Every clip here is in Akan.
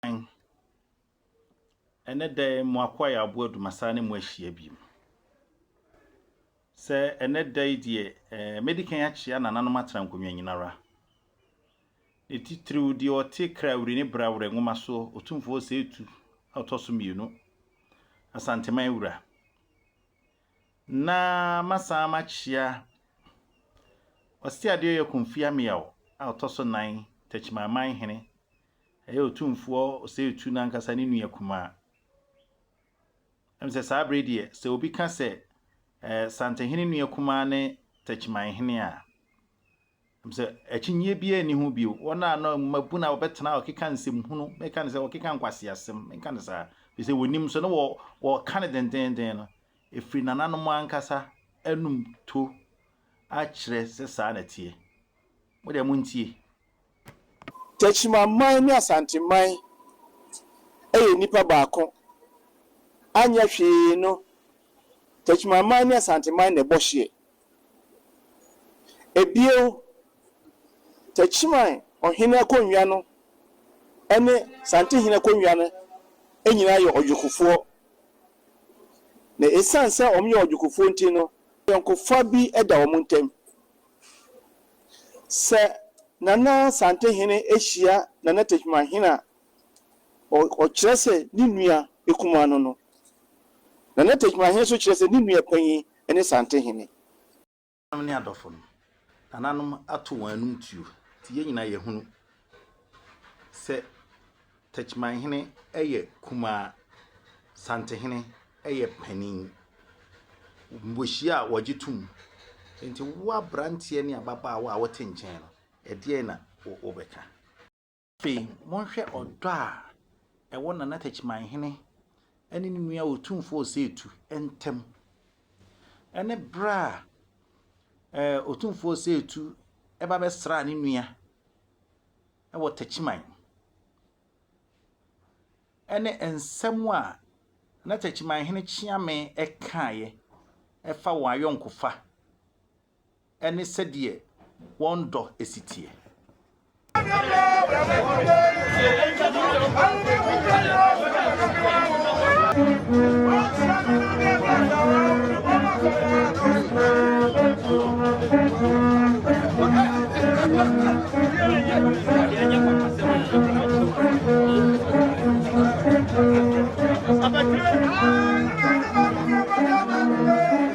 Amen. Ɛnɛ da yi mo akoa yɛ aboa dumasaa ne mo ahyia biem. Sɛ ɛnɛ da yi deɛ eh, mɛdi kan akyea nananom atena nkonnwa nyinara. Ne titiriw deɛ ɔte Krawiri ne Brawerɛ nwoma so Otumfoɔ Ɔsɛetu a ɔtɔ so mmienu, Asanteman wura. na masan makyia Ɔseadeɛyɛ Komfi Ameaw a ɔtɔ so nan Takyimaman hene, ɛyɛ Otumfoɔ Oseitu no ankasa ne nua kumaa. Ɛm sɛ saa bere deɛ, sɛ obi ka sɛ Santehene nua kumaa ne Takyiman hene a, Efisɛ akyinnye biara nni ho bio, wɔn a na mmabun a wɔbɛtena a wɔkeka nsɛmhunu, mɛka no sɛ wɔkeka nkwaseasɛm, menka no saa, efisɛ wonim nso, na wɔ, wɔka no dendeenden no, efiri nananom ankasa anum to akyerɛ sɛ saa na ɛteɛ. Mo deɛ montie. Techimanman ne Asanteman yɛ nipa baako, anyɛ hwee no Techimanman ne Asanteman na ɛbɔ hyeɛ. Bio, Techiman ɔhene akonnwa no ne Santehene akonnwa no nyinaa yɛ ɔdwokofoɔ, na ɛsiane sɛ wɔyɛ ɔdwokofoɔ nti no, ayɔnkofa bi da wɔn ntam. Sɛ Nana Santehene hyia Nana Techimanhene a, ɔkyerɛ sɛ ne nua kumaa no no. Nana Techimanhene nso kyerɛ sɛ ne nua panyin ne Santehene. Nananom ne adɔfo no, nananom ato wɔn anom tuo nti yɛn nyinaa yɛhunu sɛ Techimanhene yɛ kumaa, Santehene yɛ panin. Wɔhyia a wɔgye tom. Nti wo aberanteɛ ne ababaawa a wote nkyɛn no, ɛdeɛn na wobɛka? Afei monhwɛ ɔdɔ a ɛwɔ Nana Takyimanhene ne ne nua Otumfoɔ Osetu ntam, ɛne berɛ a ɛɛ Otumfoɔ Osetu ɛba bɛsraa ne nua ɛwɔ Takyiman, ɛne nsɛm a Nana Takyimanhene Kyeame ɛkaeɛ ɛfa wɔn ayɔnkofa ne sɛdeɛ wɔn dɔ si teɛ.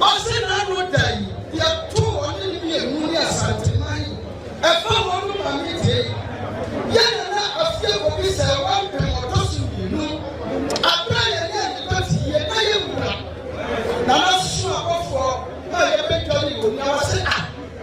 Ɔse n'ano da yi yɛtoo ɔne ne mmienu ne Asanteman yi ɛfa hɔ no ma me de yɛ Nana Afia Bobi sɛ wampem ɔtɔ so mmienu aberɛ a yɛne Anita te yie na yɛwura Nana Soso abɔfoɔ no a yɛbɛdware wɔ mu na wase ah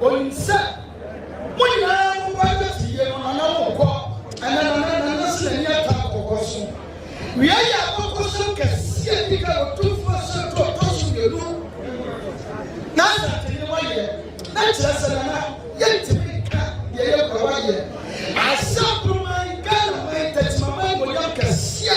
Onim sɛ mo nyinaa mo ba nyɛ fiyie no nana mo nkɔ ɛnɛ nana nana sɛ n'ani ata no kɔkɔ so. Wia yɛ abɔkɔsɛm kɛseɛ a ɛdi kan Otumfoɔ asɛm to ɔtɔ so mmienu na asante ne wayɛ na kyerɛ sɛ nana yɛntumi nka deɛ yɛkura wayɛ asɛm no man Ghana man tɛtimaman bonyam kɛseɛ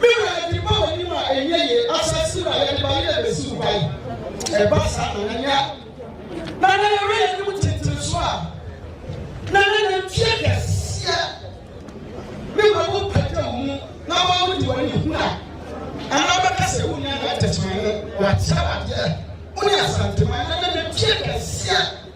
Me wura, yɛde reba w'anim a ɛnyɛ yie, asase wura, yɛde ba yɛ bɛsi wo hwan? Ɛba saa na na nya na na yɛwɛ yɛnim tentene so a na na na mfie kɛseɛ me wura wo pɛtɛ wo mu na wɔn wode wɔn ani hunu a anaa bɛka sɛ wo nya na tɛtɛmane wɔakyɛ wadeɛ wo ne asanteman na na na mfie kɛseɛ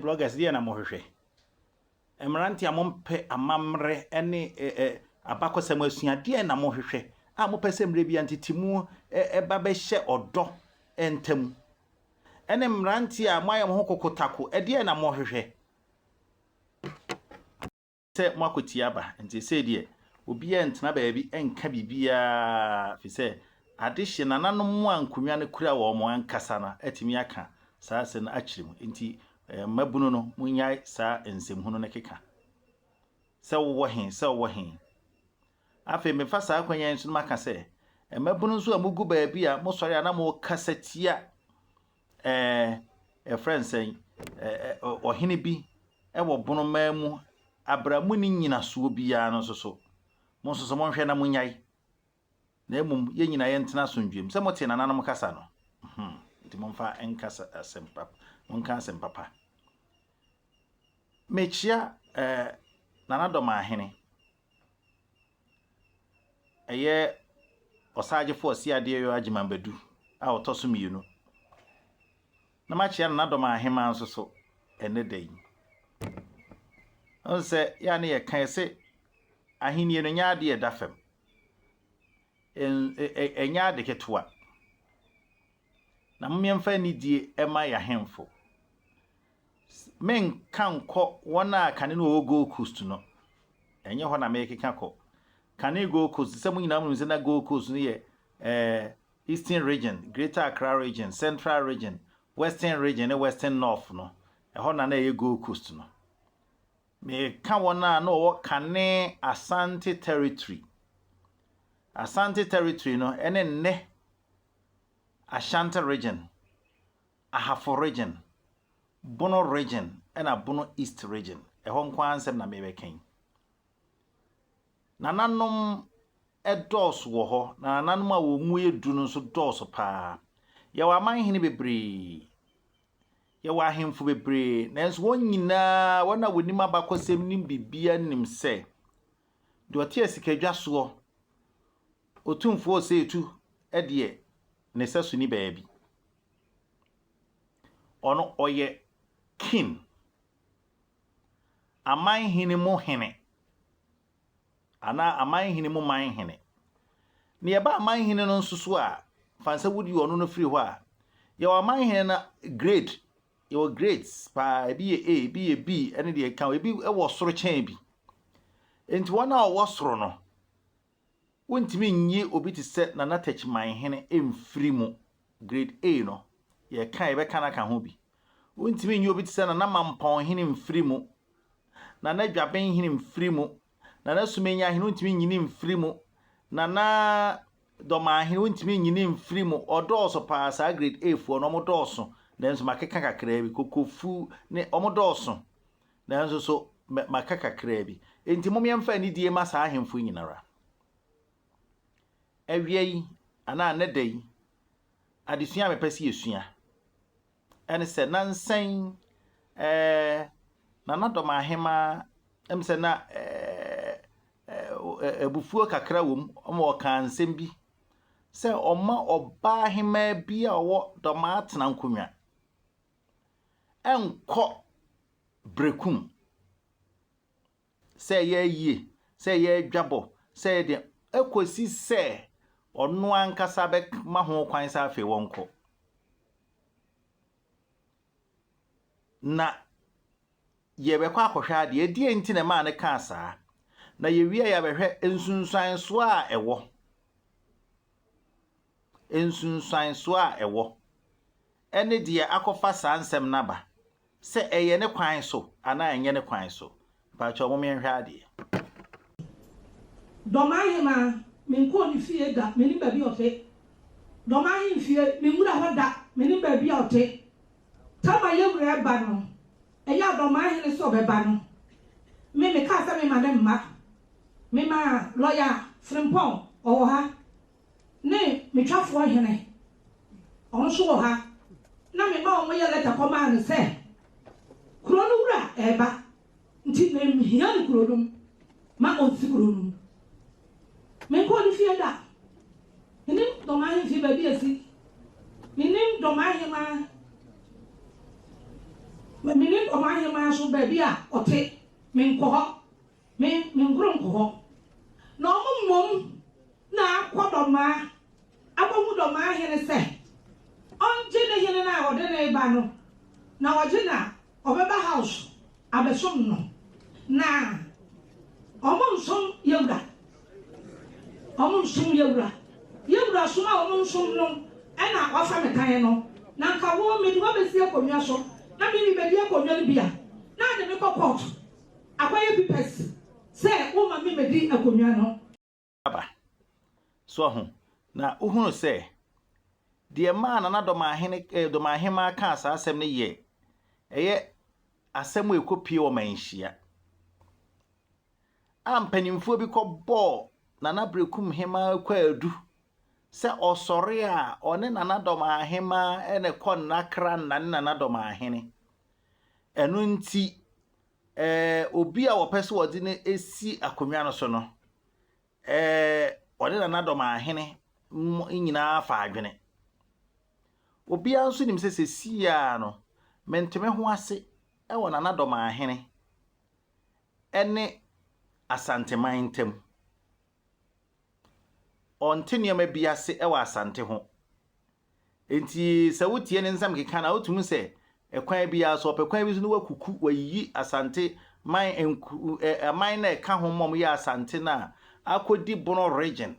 Bloggers deɛ na mo hwehwɛ? Mmerante a mo mpɛ amammerɛ ne abakɔsɛm asua deɛ na mo hwehwɛ a mo pɛ sɛ mmerɛ bi antetemu ɛba bɛhyɛ ɔdɔ ntam? Ɛne mmerante a mo ayɛ mo ho kokotako ɛdeɛ na mo hwehwɛ? sɛ moakɔtie aba, nti sei deɛ, obiara ntena baabi nka biribiara, ɛfiri sɛ adehye nananom a nkonnwa no kura wɔn ankasa no atumi aka saa asɛm no akyerɛ mu. Enti mmabunu no, monnyae saa nsɛmhunu no keka. Sɛ wowɔ he? Sɛ wowɔ he? Afei mefa saa kwan yi so no maka sɛ, mmabunu nso a mogu baabi a mosɔre a na mokasa tia Ɛɛ, yɛfrɛ no sɛn? Ɔhene bi wɔ bonomaa mu aberɛ a monni nyinasoɔ biara no nso so. Mo nso so monhwɛ na monyae, na mmom yɛn nyinaa yɛntena asomdwoeɛ mu. Sɛ motee nananom kasa no, hmm, nti momfa nka asɛm pa, monka asɛm papa. Mekyea ɛɛ nanadɔm ahene. Ɛyɛ Ɔsagyefo Ɔse Adeɛyɔ Agyeman Badu a ɔtɔ so mmienu. Na makyea no n'adɔm aheman nso so ɛnnɛ da yi. Ɔn sɛ yɛ a ne yɛ ka yɛ se ahennie no nyɛ adeɛ ɛda fam. Ɛnyɛ ade ketewa. na mom yɛmfa anidie mma y'ahemfo. Merenka nkɔ wɔn a kane no wɔwɔ Gold Coast no, ɛnyɛ hɔ na merekeka kɔ. Kane Gold Coast, sɛ mo nyinaa monim sɛ na Gold Coast no yɛ eh, Eastern Region, Greater Accra Region, Central Region, Western Region ne Western North no, ɛhɔ na na ɛyɛ Gold Coast no. Meka wɔn a na wɔwɔ kane Asante Territory. Asante Territory no ɛne nnɛ Ashanti Region, Ahafo Region, Bono Region na Bono East Region. Ɛhɔ nko ara nsɛm na merebɛka yi. Nananom dɔɔso wɔ hɔ, na nananom a wɔn mu yɛ du no nso dɔɔso paa. Yɛwɔ amanhene bebree, yɛwɔ ahemfo bebree, nanso wɔn nyinaa, wɔn a wɔnim abakɔsɛm nim biribiara nim sɛ, deɛ ɔte asikadwa soɔ Otumfoɔ Ɔsɛetu deɛ ne sɛso nni baabi. Ɔno ɔyɛ King, aman hene mu hene, anaa aman hene mu man hene. Na yɛba aman hene no nso so a, fa no sɛ wode ɔno no firi hɔ a, yɛwɔ aman hene no grade, yɛwɔ grades paa, ebi yɛ A, ebi yɛ B, ɛne deɛ ɛka ho, ebi wɔ soro kyɛn bi. Enti wɔn a wɔwɔ soro no, Wontumi nyi obi te sɛ Nana Techimanhene mfiri mu, Grade A no, yɛreka a yɛbɛka no aka ho bi. Wontumi nyi obi te sɛ Nana Mampɔnhene mfiri mu, Nana Dwabenhene mfiri mu, Nana Sumanyahene wontumi nyi no mfiri mu, Nana Dɔmanhene wontumi nyi no mfiri mu. Wɔdɔɔso pa ara, saa Grade A foɔ no, wɔdɔɔso, nanso makeka kakraa bi, Kokofu ne, wɔdɔɔso. Nanso so mɛ maka kakraa bi? Enti mom yɛmfa anidie ma saa ahemfo yi nyinara. Awia yi, anaa nnɛ da yi, adesua a mepɛ sɛ yɛsua, ɛne sɛ na nsɛn ɛɛ na nadɔm ahemaa, ɛm sɛ na ɛɛ abufuo kakra wɔ mu, ɔma ɔkaa nsɛm bi sɛ ɔma ɔbaa hemaa bi a ɔwɔ dɔm atena nkonnwa. nkɔ berɛku mu, sɛ ɛyɛ ayie, sɛ ɛyɛ adwabɔ, sɛ ɛyɛ deɛ, ɛkɔsi sɛ ɔno ankasa bɛma ho kwan sɛ afei wɔnkɔ. Na yɛbɛkɔ akɔhwɛ adeɛ, ɛdeɛ nti na ɛmaa no kaa saa, na yɛwie a yɛabɛhwɛ nsunsuansoɔ a ɛwɔ. nsunsuansoɔ a ɛwɔ, ɛne deɛ akɔfa saa nsɛm no aba, sɛ ɛyɛ ne kwan so anaa ɛnyɛ ne kwan so. Mpakyɛw mom yɛnhwɛ adeɛ. Dɔm ahemaa, me nkɔɔ ne fie da, menim baabi a ɔte. Dɔm ahemfie, me nwura hɔ da, menim baabi a ɔte. Tam a yɛn wura reba no, ɛyɛ a dɔm ahene sɛ ɔbɛba no, me, mekaa sɛ mema no mma. Memaa lɔya Frimpong, ɔwɔ ha. Ne me twafoɔ hene, wɔn nso wɔ ha, na mema wɔyɛ lɛta kɔmaa no sɛ, Kuro no wura reba, nti menhia no kuro no mu, ma ɔnsi kuro no mu. Menkɔɔ ne fie da. Mennim dɔm ahemfie baabi a ɛsi. Mennim dɔm ahemaa, mennim dɔm ahemaa nso baabi a ɔte. Menkɔ hɔ. Me me nkoronko hɔ na ɔmo mmom na akɔ dɔmaa akohu dɔmaa hene sɛ ɔngye ne hene no a ɔde no reba no na ɔgye no a ɔbɛba house abɛsom no na ɔmo nsom yawura ɔmo nsom yawura yawura som a ɔmo nsom no ɛna wafa me tan no na nka wo mede wabɛsi akonnwa so na mimi bɛdi akonnwa no bi a na ade me kɔ kɔɔto Akɔyɛ pipɛs sɛ wo ma me medi akonnwa no. Aba. So wahu? Na wohunu sɛ, deɛ ɛmaa Nana Dɔmahene, eh, Dɔmahemaa kaa saa asɛm no yɛ, ɛyɛ asɛm a ɛkɔpie wɔ manhyia. A mpanimfoɔ bi kɔbɔɔ Nana Berekum Hemaa kwaadu sɛ ɔsɔre a ɔne Nana Dɔmahemaa ɛna kɔ nnakra nna ne Nana Dɔmahene. Ɛno nti, obi a wɔpɛ sɛ wɔde no si akonnwa no so no, ɔne nanadɔm ahene nyinaa fa adwene. Obiara nso nim sɛ seesei ara no, mente me ho ase wɔ nanadɔm ahene ne Asanteman ntam. Ɔnte nneɛma bi ase wɔ Asante ho. Enti sɛ wotie ne nsɛm keka no a, wotumi sɛ kwan biara so, ɔpɛ kwan bi so na wakuku, wayiyi Asante man nku, ɛ, aman no a ɛka ho ma wɔyɛ Asante no a akɔdi Bono Region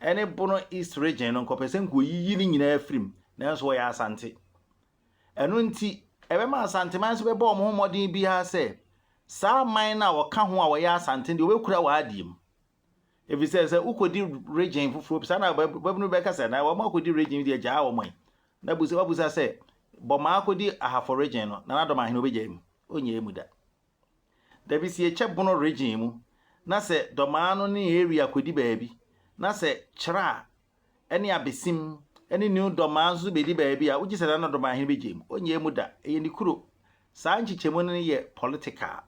ne Bono East Region no, nka ɔpɛ sɛ nka ɔyiyi ne nyinaa firi mu, nanso wɔyɛ Asante. Ɛno nti, ɛbɛma Asanteman nso bɛbɔ wɔn ho mmɔden biara sɛ saa aman no a wɔka ho a wɔyɛ Asante no deɛ wɔbɛkura wɔn adeɛ mu. Efisɛ sɛ wokodi regyen foforo bi saa na ɔbabun bi bɛka sɛ, 'Na wɔn a wokodi regyen deɛ gyaa wɔn ɛ. Na bisa wabisa sɛ, 'Bɔmaa kodi ahafo regyen no, na n'adɔm ahene obegyae mu? Onnyae mu da. Da bi sie kyɛ bono regyen mu, na sɛ dɔmaa no ne Area kodi baabi, na sɛ kyerɛ a ne abesim ne New Dɔmaa nso so bedi baabi a wogye sɛ Nana Domaahene begye mu. Onnyaa mu da. Ɛyɛ ne kuro. Saa nkyekyɛmu no yɛ political,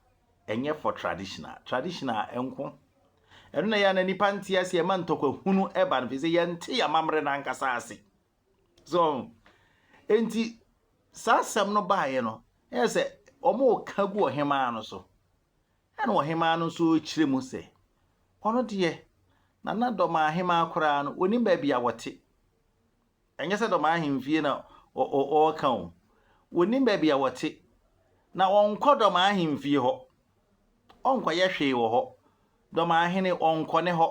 ɛnyɛ for traditional. Traditional nko. Ɛno na ɛyɛ a na nnipa nte ase, ɛma ntɔkwa hunu ɛba no, efisɛ yɛnte yɛn amammerɛ no ankasa ase. So, enti saa asɛm no baeɛ no, ɛyɛ sɛ wɔka gu ɔhemaa no so. Ɛnna ɔhemmaa no nso kyerɛ mu sɛ, Ɔno deɛ, na na Dɔmaa ahemmaa koraa no, ɔnnim baabi a wɔte. Ɛnyɛ sɛ Dɔmaa ahemfie na ɔreka o. Ɔnnim baabi a wɔte, na ɔnkɔ Dɔmaa ahemfie hɔ. Ɔnkɔyɛ hwee wɔ hɔ. Dɔmaa hene, ɔnkɔ ne hɔ.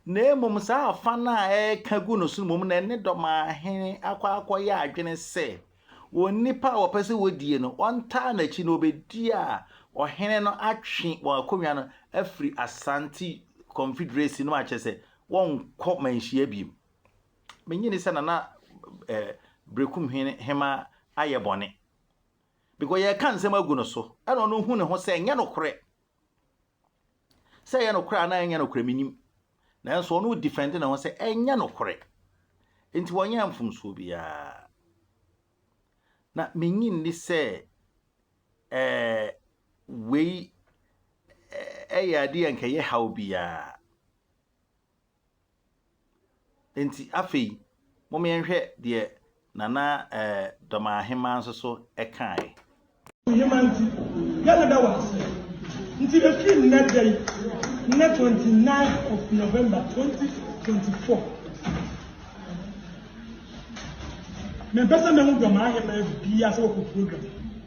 na mmom saa afã no a ɛreka gu no so no mmom na ɛne dɔm ahene akɔ akɔyɛ adwene sɛ wɔn nipa a wɔpɛ sɛ wɔdie no, wɔntaa n'akyi na wɔbɛdi a ɔhene no atwe wɔn akonnwa no afiri Asante Confederacy no mu akyerɛ sɛ wɔnkɔ manhyia biom. Menye ni sɛ Nana eh, Berekum hene hema ayɛ bɔne. Because yɛreka nsɛm agu no so, ɛna ɔno hu ne ho sɛ ɛnyɛ nokorɛ. Sɛ ɛyɛ nokorɛ anaa ɛnyɛ nokorɛ mennim, nanso ɔno redifɛnde ne ho sɛ ɛnyɛ nokorɛ, enti wɔnyɛɛ mfomsoɔ biara. Na mennye nni sɛ ɛɛ wei ɛyɛ adeɛ a nka ɛyɛ haw biara. Enti afei, momma yɛnhwɛ deɛ Nana Dɔmahema nso so kaeɛ. Wohema nti, yɛreda wo ase. Nti ɛfiri nnɛ da yi, nnɛ 29 of November 2024, mempɛ sɛ mɛhu Dɔmahema biara sɛ wakɔ program.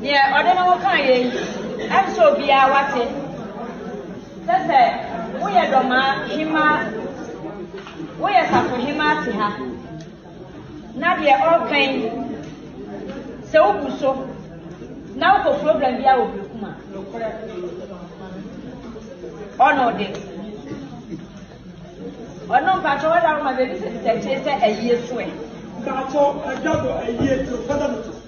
Deɛ ɔde ne ho kaa yei, ɛm sɛ obiara wate sɛ sɛ woyɛ dɔmaa hemaa, woyɛ safohemaa te ha, na deɛ ɔreka yi, sɛ wobu so na wokɔ problem bi a wɔ Berekum a, nokorɛ ɔno de ɔno mpakyɛ wɔda wo ma baabi sɛ sɛ akyire sɛ ayie soɛ. Mpakyɛ ɛda bɔ ayie to fada no to.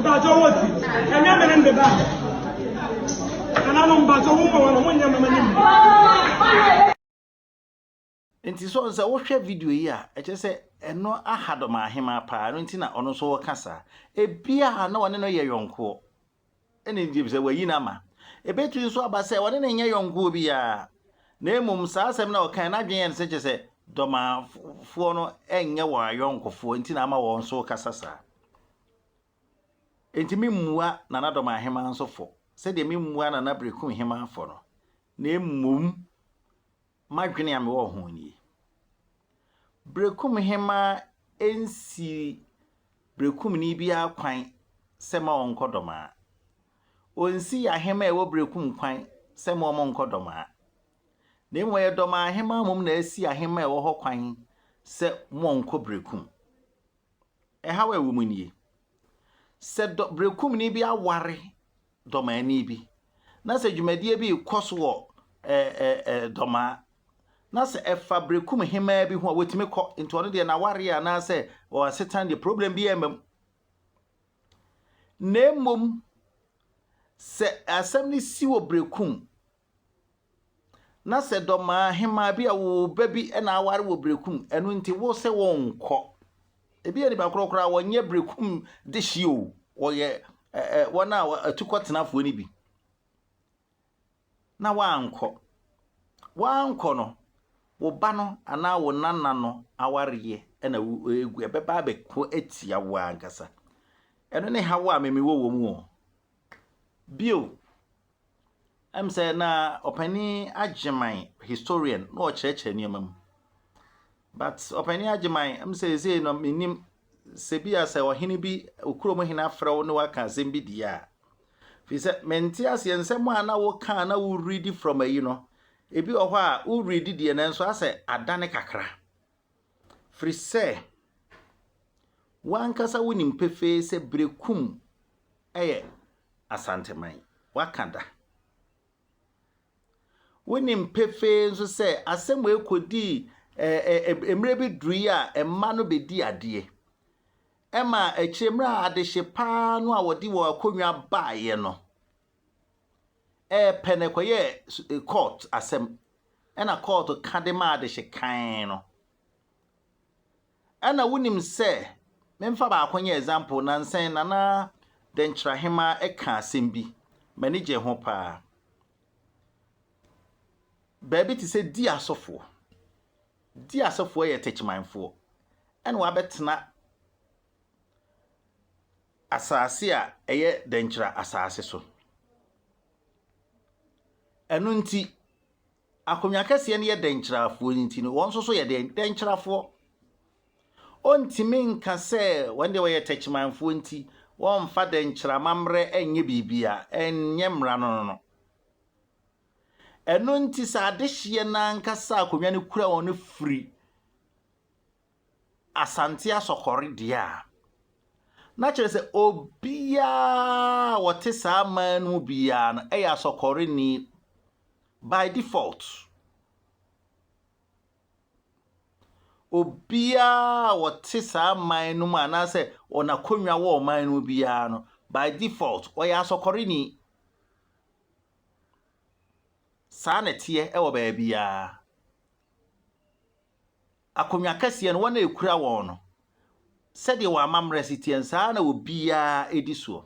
Mpatsɔ wɔ ti ɛnyɛ me ne mbe ba nananom mpatsɔ wo mɔ wɔn mo nyɛ mama ne mu. Nti so sɛ wohwɛ video yi a, ɛkyerɛ sɛ ɛno aha dɔm ahemaa paa, ɛno nti na ɔno nso ɔka saa. Ebia na ɔne no yɛ yɔnkoɔ, ɛna nti sɛ wayi no ama. Ɛbɛtumi nso aba sɛ ɔne no nyɛ yɔnkoɔ biara, na mmom saa asɛm no a ɔkae n'adwene yɛ no sɛ kyerɛ sɛ dɔmafoɔ no nyɛ wɔn ayɔnkofoɔ nti na ama wɔn nso kasa saa. Enti meremmua Nana Dormaa Hemaa nso fɔ sɛdeɛ memmuaa Nana Berekum Hemaa fɔ no, na mmom m'adwene a mewɔ ho nie. Berekum Hemaa nsii Berekumni biara kwan sɛ mma ɔnnkɔ Dormaa. Ɔnnsii Ahemaa a ɛwɔ Berekum kwan sɛ mma wɔnnkɔ Dormaa. Na mmom ɛyɛ Dormaa Hemaa mmom na asi Ahemaa a ɛwɔ hɔ kwan sɛ wɔnnkɔ Berekum. ɛhaw a ɛwɔ mu nie, Sɛ dɔ berekumni bi aware dɔmaani bi, na sɛ dwumadie bi rekɔ so wɔ dɔmaa, na sɛ ɛfa berekum hemaa bi ho a, wɔtumi kɔ. Nti ɔno deɛ n'awareɛ anaasɛ wɔn asetan deɛ problem bi ɛmma mu. Na mmom, sɛ asɛm no si wɔ berekum Na sɛ dɔmaa hemaa bi a wo ba bi na aware wɔ berekum, ɛno nti wo sɛ wɔnkɔ. Ebi yɛ nipa korɔ koraa, wɔnyɛ berekum de hye o, wɔyɛ ɛɛ wɔn a atukɔtenafoɔ no bi. Na wankɔ. Wankɔ no, wo ba no anaa wo nana no awareɛ na egu, ɛbɛba abɛko atia wo ankasa. Ɛno ne haw a meme wɔ wɔ mu o. Bio. Ɛm sɛ na Ɔpanin Agyeman historian na ɔkyerɛkyerɛ nneɛma mu. But Ɔpanin Agyeman, ɛm sɛ ɛsei no menim sɛ bi a sɛ ɔhene bi, okuro mu hene afrɛ wo ne waka asɛm bi deɛ a, fi sɛ mente aseɛ nsɛm a na woka a na wo read from ayi no, ebi wɔ hɔ a wo read deɛ nanso asɛ adane kakra. Firi sɛ, w'ankasa wonim pefee sɛ Berekum yɛ Asanteman. Woaka da. Wonim pefee nso sɛ asɛm wei kɔdii ɛɛ mmerɛ bi duruiɛ a mma no bɛdii adeɛ. Ɛma akyire mmerɛ a adehye paa no a wɔde wɔn akonnwa baeɛ no, ɛɛ pɛ no ɛkɔyɛɛ su eh, court asɛm ɛna court ka de maa adehye kan no ɛna wonim sɛ memfa baako nyɛ example nansɛn nana dɛnkyerɛ hema ɛka asɛm bi m'ani gye ho paa baabi te sɛ di asɔfoɔ di asɔfoɔ yɛ tɛkyimanfoɔ ɛna wabɛtena asase a ɛyɛ dɛnkyɛra asase so. Ɛno nti, akonnwa kɛseɛ no yɛ dɛnkyɛrafoɔ nti no, wɔn nso so yɛ dɛn? Dɛnkyɛrafoɔ. Wɔntumi nka sɛ wɔn deɛ wɔyɛ tɛkyimanfoɔ nti wɔmfa dɛnkyɛra amammerɛ nyɛ biribi a ɛnyɛ mmara no no no. Ɛno nti sɛ adehyeɛ no ankasa akonnwa no kura wɔn no firi Asante Asɔkɔre deɛ a, na kyerɛ sɛ obiara a ɔte saa man no mu biara no yɛ Asɔkɔreni by default. Obiara a ɔte saa man no mu anaasɛ wɔn akonnwa wɔ ɔman no mu biara no, by default, ɔyɛ Asɔkɔreni. Saa na ɛteɛ wɔ baabiara. Akonnwa kɛseɛ no, wɔn a ɛkura wɔn no, sɛdeɛ wɔn amammerɛ si teɛ no, saa ara na obiara di soɔ.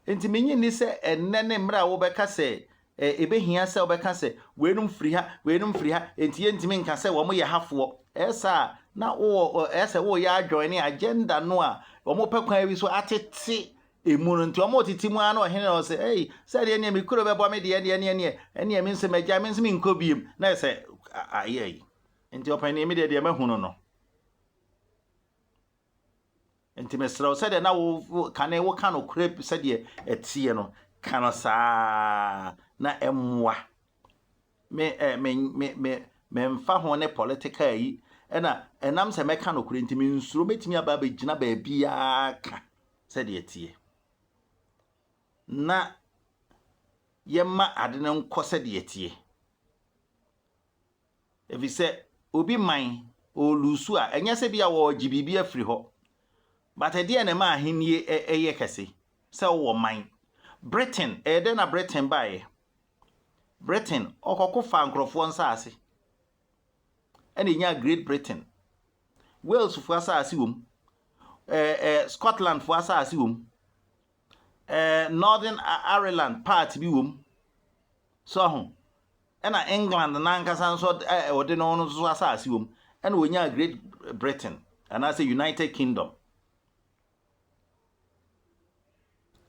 Enti mennye nni sɛ ɛnnɛ ne mmerɛ a wobɛka sɛ ɛbɛhia sɛ wobɛka sɛ, weinom firi ha, weinom firi ha, enti yɛntumi nka sɛ wɔyɛ hafoɔ. Ɛyɛ saa a, na wowɔ, ɛyɛ sɛ woreyɛ adwɔn ne agenda no a wɔpɛ kwan bi so atete ɛmu no. Nti wɔretete mu ara na ɔhene no sɛ, Ei, sɛ deɛ ɛneɛ me kuro bɛbɔ me deɛ ɛneɛ, ɛneɛ, ɛneɛ, ɛneɛ me nso magyae, me nso menkɔ bio. Na ɛyɛ sɛ ayɛ yi. Enti ɔpanin yi, me deɛ, deɛ mahu no no. Enti mesrɛ wo, sɛdeɛ na wo kane woka nokorɛ sɛdeɛ ɛteɛ no, ka no saa na ɛmmoa. Me eh, me me me memfa ho ne political yi ɛna ɛnam sɛ mɛka nokorɛ nti mensuro mɛtumi aba abɛgyina baabiara ka sɛdeɛ ɛteɛ na yɛma ade no nkɔ sɛdeɛ ɛteɛ. Efisɛ obi man, ɔreluusu a, ɛnyɛ sɛ ebia wɔregye biribi afiri hɔ, but ɛdeɛn na ɛma ahenni yɛ kɛse? Sɛ wowɔ man. Britain, ɛyɛ dɛn na Britain baeɛ? Britain, ɔkɔko faa nkurɔfoɔ nsaase, ɛna ɛnyaa Great Britain. Walesfoɔ asaase wom, ɛɛ ɛɛ Scotlandfoɔ asaase wom, ɛɛ Northern Ireland part bi wom, so ho. Ɛna England no ankasa nso a ɔde no no nso asase wom. Ɛna onyaa Great Britain anaasɛ United Kingdom.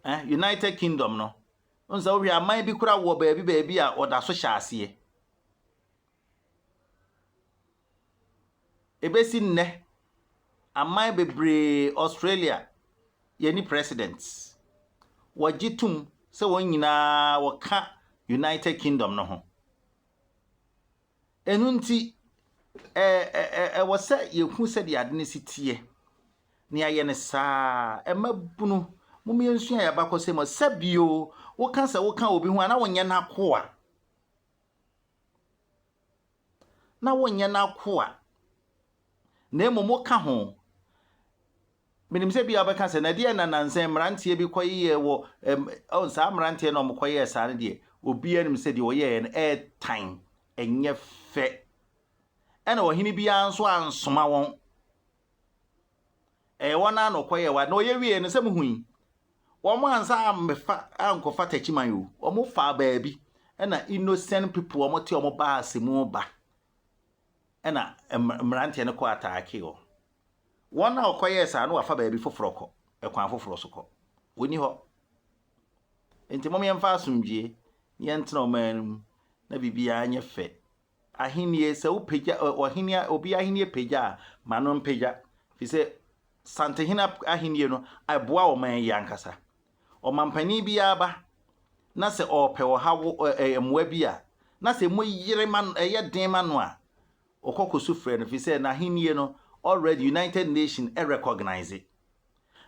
Eh, United Kingdom no. Nso sɛ wohwɛ aman bi kora wɔ baabi baabi a ɔda so hyɛ aseɛ. ɛbɛsi nnɛ, aman bebree, Australia, yɛnni president. Wɔgye tom sɛ wɔn nyinaa wɔka United Kingdom no ho. Ɛno nti, ɛwɔ sɛ yɛhu sɛdeɛ ade no si teɛ. Ne ayɛ no saa, ɛma bunu, mom yɛnsua yɛ abakɔsɛ mu, sɛ bio, woka sɛ woka obi ho a na wonyɛ n'akoa. na wonyɛ n'akoa, na mmom woka ho. Menim sɛ bia wobɛka sɛ, na ɛdeɛ na nansa mmeranteɛ bi kɔyeyɛɛ wɔ, oh, saa mmeranteɛ na wɔkɔyɛɛ saa no deɛ, obiara nim sɛ deɛ wɔyɛɛ no ɛɛtan, ɛnyɛ fɛ. Ɛna ɔhene biara nso ansoma wɔn. Ɛyɛ wɔn ara na wɔkɔyɛɛ wɔn ade. Na wɔyɛ wieeɛ no, sɛ mohui, wɔansan ammɛfa ankɔfa Takyiman o, wɔfaa baabi, ɛna innocent people a wɔte wɔn baase mu ba, ɛna mmeranteɛ no kɔ ataake wɔn. Wɔn a wɔkɔyɛɛ saa no wɔafa baabi foforɔ kɔ, ɛkwan foforɔ so kɔ. Wɔnni hɔ. Enti mom yɛmfa asomdwoeɛ na yɛntena ɔman no mu na biribiara nyɛ fɛ. Ahenni, sɛ wopagya ɔhene, obi ahenni pagya a, ma no mpagya, efisɛ Santehene ahenni no, ɛboa ɔman yi ankasa. Ɔmampanin biara ba na sɛ ɔrepɛ ɔhaw, mmoa bi a, na sɛ emu yere ma no, ɛyɛ den ma no a, ɔkɔ kɔ su frɛ no, efisɛ n'ahenni no, already United Nations recognise.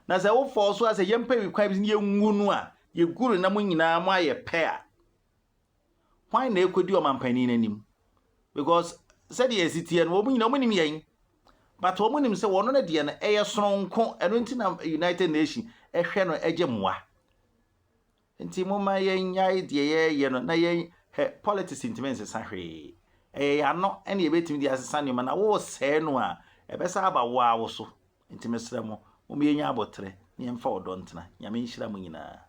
Na sɛ wofɔɔ so a, sɛ yɛmpɛ kwan bi sɛ yengu no a, yegu no na mo nyinaa moayɛ pɛ a, Hwan na ɛkɔdi ɔmanpanin no anim? Because sɛdeɛ ɛsi teɛ no, wɔn nyinaa wɔnim yɛn. But wɔn nim sɛ wɔn no deɛ no ɛyɛ soronko, ɛno nti na United Nations ɛhwɛ no ɛgye mmoa. Nti moma yɛnyae deɛ yɛyɛ no na yɛn hɛ politics ntumi nsesa hwee. Ɛyɛ yɛano ɛne yɛbɛtumi de asesa nneɛma na wosɛe no a ɛbɛsa aba wo a wo so. Nti mesrɛ mo, moma yɛnya aboterɛ na yɛmfa ɔdɔ ntena. Nyame nhyira mo nyinaa.